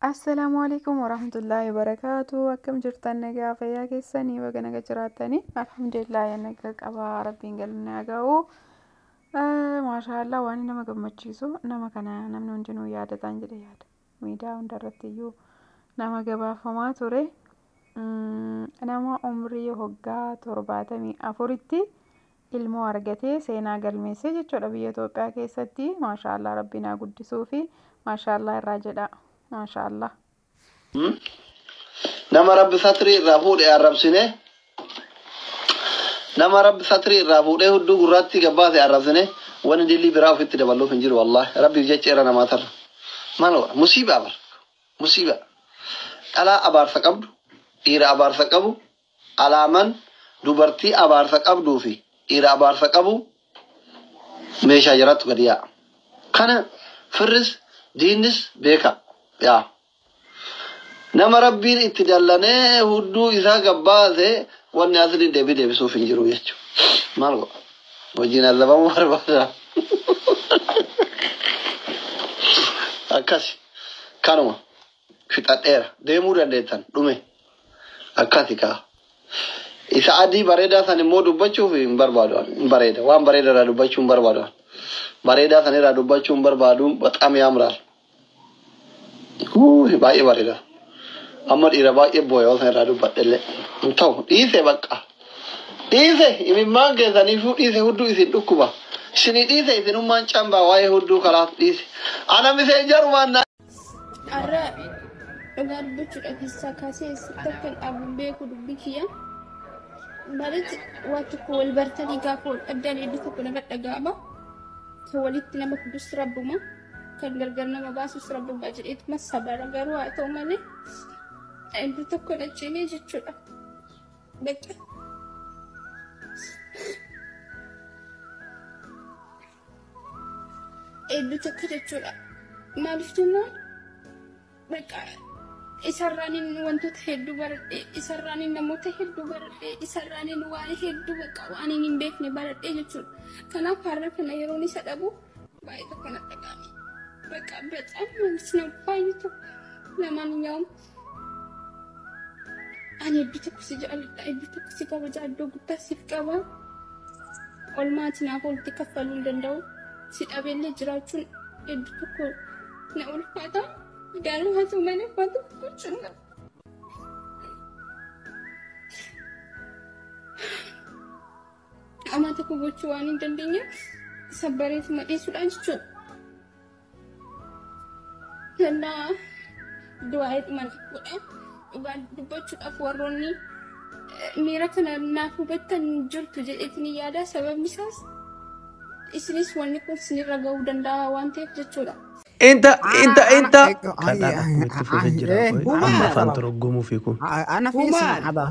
Assalaamu alaikum warahmatullaahi wabarakaatu akkam jirtan nagaa fayyaa keessanii baga naga jiraatanii alhamdulillah ya naga qabaa rabbiin galanni haa ga'u maashaallah waan nama gammachiisu nama kana namni hundinuu yaadataan jedhe yaada miidiyaa hundarratti iyyuu nama gabaafamaa ture nama umrii hoggaa torbaatamii afuritti ilmoo argatee seenaa galmeessee jechuudha biyya Itoophiyaa keessatti maashaallah rabbiin haa guddisuufi maashaallah irraa jedhaa maashaallah. Nama rabbi satrii irraa fuudhe arrabsine nama rabbi satrii irraa fuudhee hudduu gurraatti gabbaase arrabsine wani dilii biraa ofitti daballuuf hin jiru wallahi rabbiif jecha irra namaa tarra maal godha musiibaa bar musiibaa dhalaa abaarsa qabdu dhiira abaarsa qabu Alaaman dubartii abaarsa qabduu fi dhiira abaarsa qabu meeshaa jaraattu gadi yaa'a. Kana firris diinnis beeka. Yaa nama Rabbiin itti dallanee hudduu isaa gabbaase wanni asli debi debisuuf hin jiru jechu. Maal godha? Wajjin azabamu barbaada. Akkasi. Kanuma. fixadheera deemuu dandeettan dhume akkasi kaa isa adii bareedaa san immoo dubbachuuf hin barbaadu ani. hin bareeda waan bareeda irraa dubbachuu hin barbaadu ani. bareedaa san irraa dubbachuu hin barbaadu baxaam yaamraal Huuy, baay'ee bareeda amma dhiira baay'ee booya osoo irraa dubbadhellee hin ta'u dhiise bakka dhiise imimmaan keessaniifuu dhiise hudduu isin dhukkuba isinii dhiise isinummaan cambaa waa'ee hudduu kalaas dhiise ana miseenjarumaan na Har'a dhugaa dubbachuudha keessaa kaasee eessatti akka hin dhaabu hin beeku dubbii kiyya. Maaliif waan tokko wal bartanii gaafa wal dhabdan iddoo tokko nama dhaga'ama. Kan walitti nama fidus rabbuma. Kan gargar nama baasus rabbuma jedheetuma sabara garuu haa ta'u malee iddoo tokko na cimee jechuudha. Bakka. Eebbi tokko jechuudha. Maaliif jennaan bakka isarraanin wantoota hedduu baradhe, isarraanin namoota hedduu baradhe, isarraanin waa'ee hedduu bakka waan hin beekne baradhe jechuudha. Kanaaf har'a kana yeroon isa dhabu baay'ee tokko na dhaga'ame. Bakka bacaan maalis na baay'ee tokko namaan hin yaa'amu. Ani eebbi tokko si jaalladha, eebbi tokko si kabaja, iddoo guddaa siif qaba. Olmaati naaf oolti kaffaluu hin danda'u. Si dhabeellee jiraachuun eebbi tokko na ulfaata. Garuu haa ta'u malee waan tokko gochuun qaba. Amaa tokko gochuu waan hin dandeenyeef isa bareetu madhiisudha jechuudha. Kennaa du'aa'ee mana godha. Dhugaa dubbachuudhaaf warroonni miira kana naaf hubattan jirtu jedheetiin yaada. Sababni isaas isinis wanni kun sinirra ga'uu danda'a waan ta'eef jechuudha. Inta inta inta. Kadhaan akkuma itti fufee jira. Amma afaan toroggomuu fi kun. Ana fi isin abaa.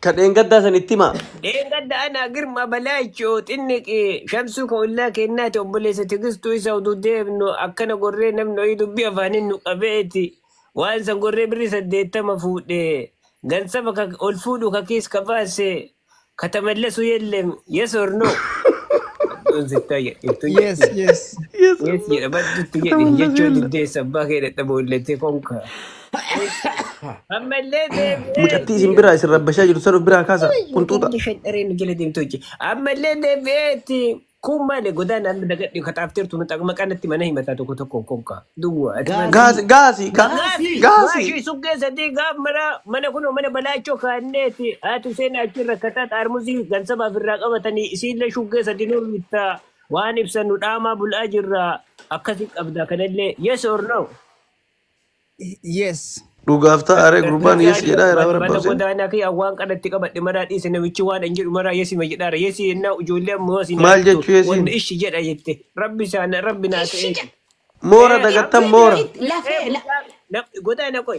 Ka dheengaddaa san itti himaa. Dheengadda ana Girma Balaachoo xinniqi shamsuu ka ollaa kennaati obboleessa tigistuu isa utuu deemnu akkana gorree namni oyii dubbii afaaniin nu qabeeti waan san gorree birrii saddeettama fuudhe gansafa ka ol fuudhu ka kiis ka baase ka tamallesu yellem yes or no badduun sittaa jedhittu yes jedhe yes yes yes jedha baddutti jedhe Kataman jechuun laselle. diddeessa abbaa kee dadhaboollettee konka. Eebboo. Amma illee deebi'ee Mucattii itti isin biraa isin rabbashaa jirtu san of biraa kaasa Yookiin qunxuuxa. illee shanxaree nu jala deemtu hojje. Amma illee deebi'ee itti kun maali godaan amma dagadhi kaxaafteertu nu xaqma kanatti mana himataa tokko tokkoon konka. Duwwa ati maal Gaasii. Gaasi gaasi ga Gaasii. Gaasii gaasi. waashii suggee sadii gaaf mana mana kunoo mana balaachoo kaanneeti haati isheen achi rakkataa xaarmuzii gansabaaf irraa qabatanii isiillee shuggee sadii nuun bittaa waan ibsannu dhaamaa bul'aa jirra akkasii qabda kanallee yes or no Yes. Dhugaaf ta'a ree gurbaan Lakki yes haadhi jedhaa iraa balbala barabbaabsee. godaanaa kee waan qadatti qabadhe maraa dhiise namichi waan hin jedhu maraa yesima jedhaara yesi yennaa ijoollee ammoo isin haa Maal jettu jechuu yesiin? wanni ishi jedha jette rabbi isaan rabbi naa Ishi ta'eeti. jedha. Moora Ee Moora dagattan rabbi Rabbi moora. itti ee ee lafee la mucaa na- godaana qoy